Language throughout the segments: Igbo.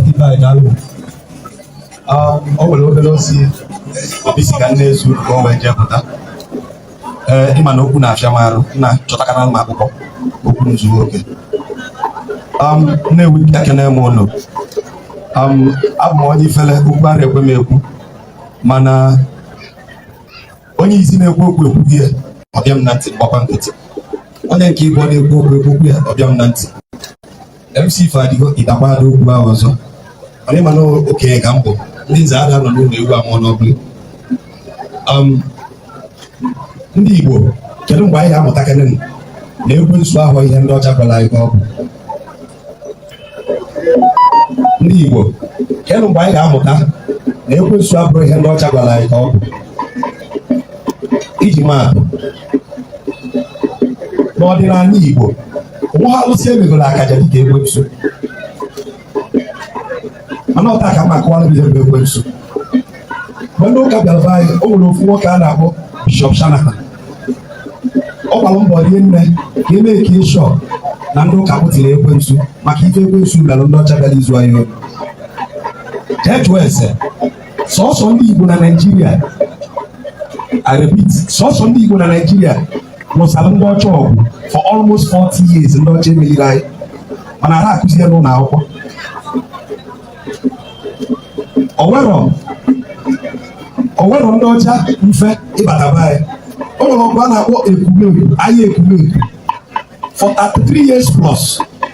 ibe anyị daalụ o nwere obere ozi obi si ka nne ezu ka o wee jee pụta ee ịma na okwu na-afịa m arụ na chọtakana m akwụkwọ okwu m zuo oke nnewi ekene m ụnụ abụ m onye ifele okwu ara ekwe m ekwu mana onye izizi na-ekwu okwu ekwukwa ya ọ bịa m na ntị m gbakwa nkịtị onye nke ịbụọ na-ekwu okwu ekwukwa ya ọ bịa m na ntị MC Fadigo ịdakwa ada okwu ahụ ọzọ mana ịma na okenye ka m bụ ndị nze ada anọ n'ụlọ ewu amụọ n'ọgbụlị um, ndị Igbo kedu mgbe anyị ga-amụtakarị na ekwensu abụrọ ihe ndị ọcha gwara anyị ka ọ bụ ndị Igbo kedu mgbe anyị ga-amụta na ekwensu abụrọ ihe ndị ọcha gwara anyị ka ọ bụ iji maatụ n'ọdịnala Igbo o nwerọ alụsị e megoro akaje dịka ekwensu mana taa ka m ga-akọwara ihe bụ ekwensu mgbe ndị ụka bịara be anyị o nwere ofu nwoke a na-akpọ bishọp shanahan ọ gbara mbọ rinne ka e mee ka ịhụ na ndị ụka kwutọrọ ekwensu maka ike ekwensu kpara ndị ọcha bịara izu anyị jee jụọ ese sọsọ ndị igbo na naijiria I repeat sọsọ ndị igbo na naijiria lụsara ndị ọcha ọgụ for almost 40 years ndị ọcha emerirọ anyị mana ara akụzi ya n'ụlọ akwụkwọ onwerọ onwerọ ndị ọcha mfe ịbata be anyị o nwere ọgụ a na-akpọ ekumeku aya ekumeku for 33 years plus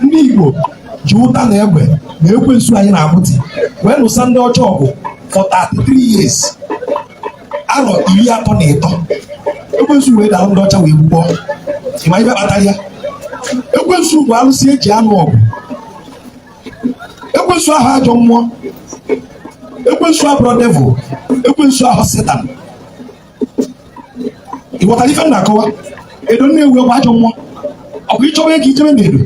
ndị Igbo ji ụta na egbe na ekwensu anyị na-abụti wee lụsa ndị ọcha ọgụ for 33 years arọ iri atọ na ịtọ ekwensu wee dara ndị ọcha wee gbukpọọ ị ma ife kpatara ya ekwensu bụ alụsị e ji anụ ọgụ ekwensu abụrọ ajọ mmụọ ekwensu abụrọ devil ekwensu abụrọ setan ị ghọtara ife m na-akọwa edo nnewi bụ ajọ mmụọ ọ bụ ị chọwa ego i jebe na edo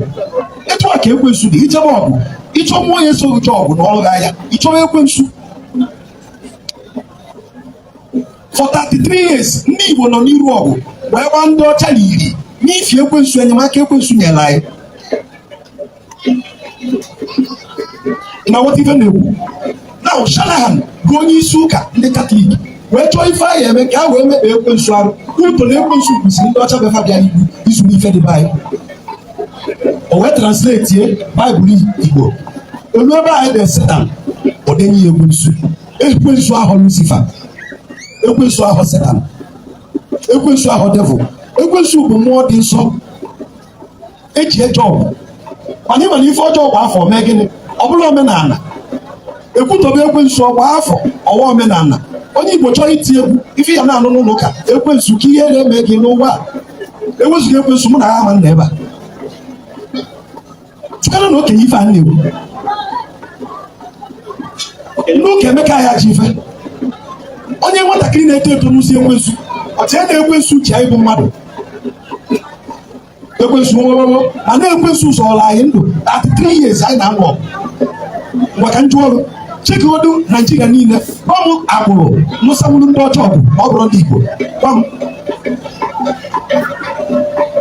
etu a ka ekwensu dị i jebe ọgụ ị chọọ mmụọ ya-eso gị jee ọgụ nụọrọ gị aya ị chọwa ekwensu for 33 years ndị Igbo nọ n'iru ọgụ wee gbaa ndị ọcha na iri n'ifi ekwensu enyemaka ekwensu nyere anyị ị na-aghọta ife m na-ekwu now Shanahan bụ onye isi ụka ndị katọlik wee chọọ ife a ya-eme ka a wee mekpa ekwensu arụ ụtọ na ekwensu kwụsịrị ndị ọcha mgbe fa bịa n'igbo izuru ife dị be anyị o wee translate baịbụl igbo o luo ebe a ya-ede setan o dee ekwensu ekwensu ahụ lusifa ekwensu ahụ setan ekwensu ahụ devil ekwensu bụ mmụọ dị nsọ eji eje ọgụ mana ị ma na ife ọjọọ gbaa afọ mee gịnị ọ bụrụ omenala ekwutọbe ekwensu ọ gbaa afọ ọwa omenala onye igbo chọrọ iti egwu ife ya na-anụ n'ụlọ ụka ekwensu ka ihe na-eme gị n'ụwa a ewezuga ekwensu mụ na gị ama nọ ebe a chịkọrọ na okenye ife a na-ekwu n'oge emeka ya ji ife onye nwatakịrị na-eto eto nụsịa ekwensu o chee na ekwensu ji anyị bụ mmadụ ekwensu nwụrụrụ mana ekwensu zọrọ anyị ndụ 33 years anyị na-anụ ọgụ maka njụ ọrụ chekodu naijiria niile o nwee agbụrụ nụsawuru ndị ọcha ọgụ ọ bụrụ ndị igbo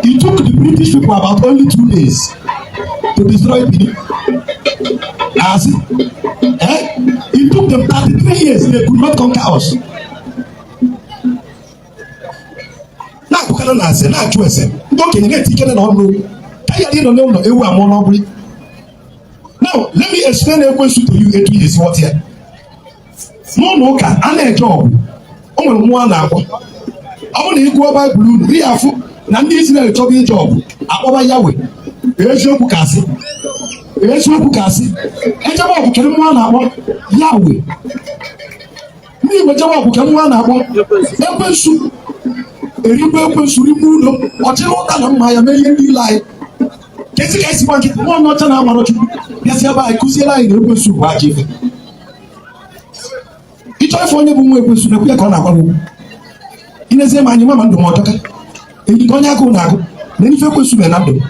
It took the British people about only two days to destroy Benin. As eh? It took them 33 years, they could not conquer us. na-akpụkara na ase na-achụ ese ndị okenye na-eti ikere na okenye adị anọ n'ụlọ ewu amụọ n'ọgbụrị Now, let me explain ekwensu to you etu ị ya-esi ghọta ya. N'ụlọ ụka, a na-eje ọgụ. O nwere mmụọ a na-akpọ. Ọ bụrụ na ị gụọ Baịbụl unu, ị ya-afụ na ndị Izrel chọba ije ọgụ, akpọba Yawe. Eziokwu ka asị. Eziokwu ka asị. Ejebe ọgụ kedu mmụọ a na-akpọ Yawe. ndị igbo jewa ọgụ kee mmụọ a na-akpọ ekwensu erigbu ekwensu rigbu ụlọ ọ chịrị ụta na mma ya mee ihe niile anyị kezi ka esi gbaa nkịtị nwa onye ọcha na-amara chukwu bịazi ebe anyị kuziere anyị na ekwensu bụ ajọ ife ịchọ ife onye bụ nwa ekwensu na-ekwu ya ka ọ na-agwa m i nezie m anya ị ma ama ndụ ma ọtọka nke onye agụụ na-agụ na ife ekwensu mere na ndụ m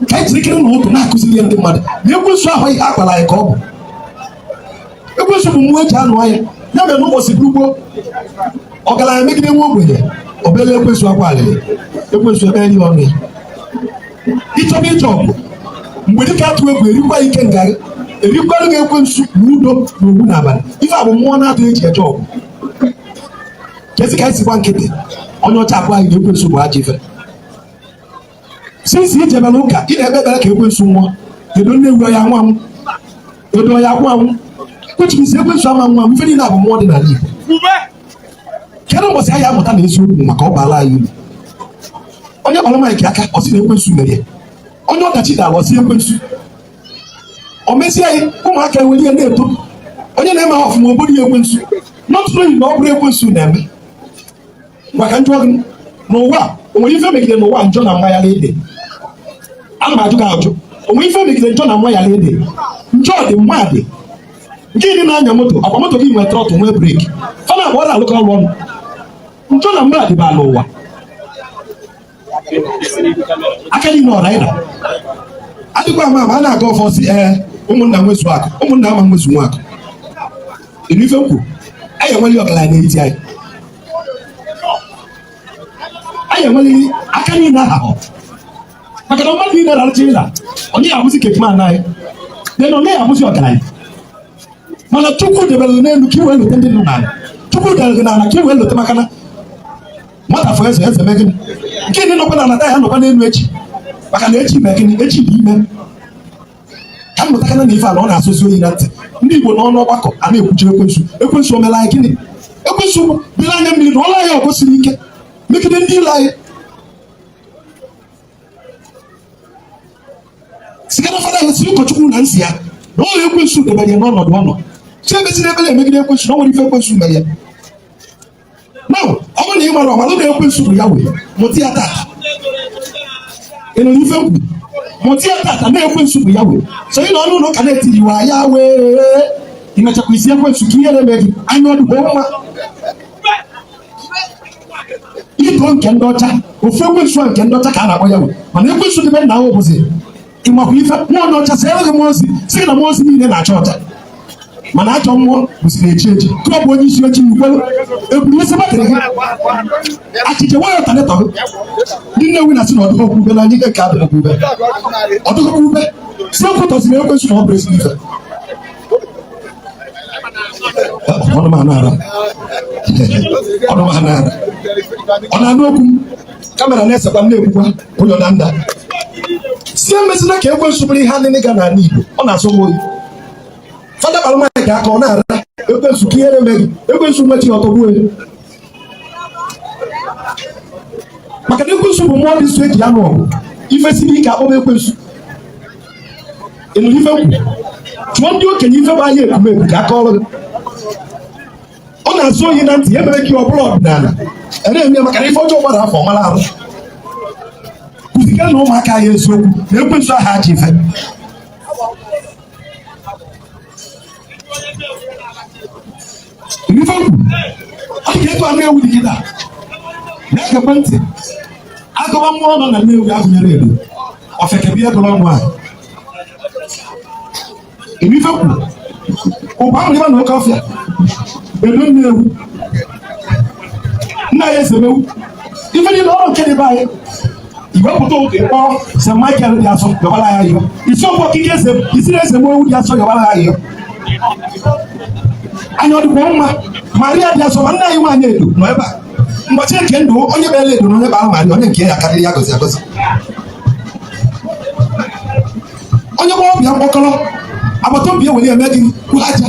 ka anyị jiri kere na ụtụ na-akuziri ndị mmadụ na ekwensu abụghị ihe a gwara anyị ka ọ bụ ekwensu bụ mmụọ eji anụ aya ya mere n'ụbọchị gboo gboo ọgaranya megide nwa ogbenye o beelu ekwensu akwa alịlị ekwensu ebe nri ọnụ ya ịchọba ije ọgụ mgbe dike atụ egwu erikwa ikenga ri erikwanụ ekwensu na udo na ogwu na agbala ife a bụ mmụọ na-atụ eji eje ọgụ kezi ka anyị si gba nkịtị onye ọcha agwa anyị na ekwensu bụ ajọ ife sinsi i jebere ụka ị na-ekpe ekpere ka ekwensu nwụọ edo nne ewu ya nwa m edo ya kwụ anwụ kwechibisi ekwensu ama nwụ ife niile a bụ mmụọ dị n'ala Igbo kedu ụbọchị anyị amụta na eziokwu maka ọ baala anyị uru onye kpọrọ maịkị aka ọ sị na ekwensu mere ya onye ọdachi dara ọ sị ekwensu o mesie anyị ụmụaka ewere ya na-eto onye na-emeha ọfụma o bodo ya ekwensu nọtụrụ oyi na ọ bụrụ ekwensu na-eme maka njọ dị n'ụwa o nwere ife megide n'ụwa njọ na mma ya na-adị ana m ajụ gị ajụ o nwere ife megide njọ na mma ya na-adị njọ dị mma dị nke ị na-anya moto akwa moto gị nwere throttle nwee brake fa naabọ na-alụkọ ọrụ ọnụ njọ na mma dịba n'ụwa aka niile ọra ịra adịkwa ama ma a na-aga ọfọ sị ee eh, ụmụnna nwezu akụ ụmụnna ama nwezu nwa akụ ịnụ ife m kwuru a ya enwe ọgaranya n'etiti anyị a ya enwe aka niile aha maka na mmadụ niile rarụcha ịra onye ya abụzi gateman anyị dị na onye ya abụzi ọgaranya mana chukwu debere n'elu ka i wee lote ndị nọ n'ala chukwu debere gị n'ala ka i wee lote maka na nwata fọ eze eze mee gịnị nke ndị nọkwa n'ala taa ya nọkwa n'elu echi maka na echi mee gịnị echi dị ime ka m mụtakana na ife ala ọ na-asọzi oyi na ntị ndị Igbo nọ n'ọgbakọ a na-ekwuchiri ekwensu ekwensu omela anyị gịnị ekwensu bịara anya mmiri na ọla ya ọgụ siri ike megide ndị ilo anyị sikana fada ya si ụkọchukwu na nsị ya na ọla ekwensu debe ya n'ọnọdụ ọ nọ sị ebezina ebele emegide ekwensu na o nwerọ ife ekwensu mere ya na ọ bụrụ na ị marọ mara na ekwensu bụ Yahweh mụta ya tata ịnụ ife m kwu mụta ya tata na ekwensu bụ Yahweh so ị nọ n'ụlọ ụka na-etiri wa Yahweh imechakwa isi ekwensu ka ihe na-eme gị anya ọ dịkwa mma ito nke ndị ọcha ofu ekwensu nke ndị ọcha ka a na-akpọ Yahweh mana ekwensu dị be nna ahụ bụzi ịmakwa ife nwa ndị ọcha sị enweghị mmụọ ozi sị gị na mmụọ ozi niile na-acha ọcha mana ajọ mmụọ bụsịrị eji eji ka ọ bụ onye isi ojii i kwelu eburu isi batịrị gị achịcha nwayọ talịtọ gị ndị Nnewi na-asị na ọdụkọ kwube na anyị ka abịa kwube ọdụkọ kwube si ekwutọsịrị ekwensu na ọ bụrọ ezi ife ọnụ m anara ọnụ m anara ọ na-anụ okwu m kamera na-esekwa m na-ekwukwa ụlọ na nda sị emezina ka ekwensu bụrụ ihe anịnị ga n'ala Igbo ọ na-asọ m oyi fada kpara nwaanyị ka aka ọ na-ara ekwensu ka ihere meghị ekwensu nwechi ọtọgbuo maka na ekwensu bụ mmụọ dị nsọ e ji anụ ọgụ ife siri ike a kpọba ekwensu ị nụrụ ife m kwuru jụọ ndị okenye ife bụ agha Ekumeku ka a kọọrọ gị ọ na-asọ oyi na ntị ya mere ka ọ bụrụ ọdịnala na-eme maka na ife ọjọọ gbara afọ mara arụ kụzikene ụmụaka anyị eziokwu na ekwensu aha ajọ ife ịnụ ife m kwuru ọ dị ka etu Nnewi dị kịtaa na-egekwa ntị a gụba mmụọ nọ na Nnewi a gụnyere Edo ọfeke bịa dụrụ ọnụ ahụ ife kwuru ụba ahụ ịba na oke ọfịa edo Nnewi nna ya esemewu ife niile ọrụ nke dị be anyị iwepụta ụka ịkpọ St. Michael dị asọ yọbara ya ihe isi ọkwa okike isi na-ese m ewu dị asọ yọbara ya ihe anya ọ dịkwa mma maria dị asọ ma nna anyị nwaanyị edo nọ ebe a ụbọchị nke ndụ onye bịara edo na onye bara maria onye nke ya karịrị ya gozi agozi onye gbara ọbịa mkpọkọrọ agbata obi ewere eme gị kwụrụ aja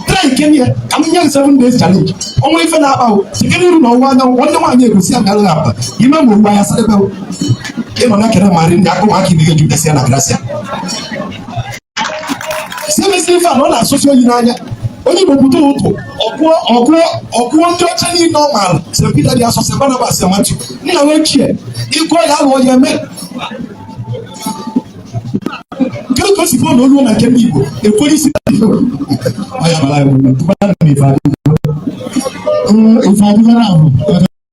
try nke ya ka m nye gị seven days challenge ọnwa ife na-akpa o site n'iru na ọwụwa anyanwụ nwanne nwaanyị egosi ya bịara akpa ime ma ugbu anya sarịba ị nọ na-ekene Maria ndị akụ ụmụaka ibe gị jupụtasịa na grasia semesi ife a na ọ na-asụsi oyi n'anya onye igbo pụta ụtụ ọkụọ ọkụọ ọkụọ ndị ọcha niile ọ maara St. Peter dị asọ St. Barnabas Matthew nna wee chie ịgụọ ya alụọ ya eme kedu ka o si fọọ na olu na nke ndị Igbo ekwere isi ife adịghị na ahụ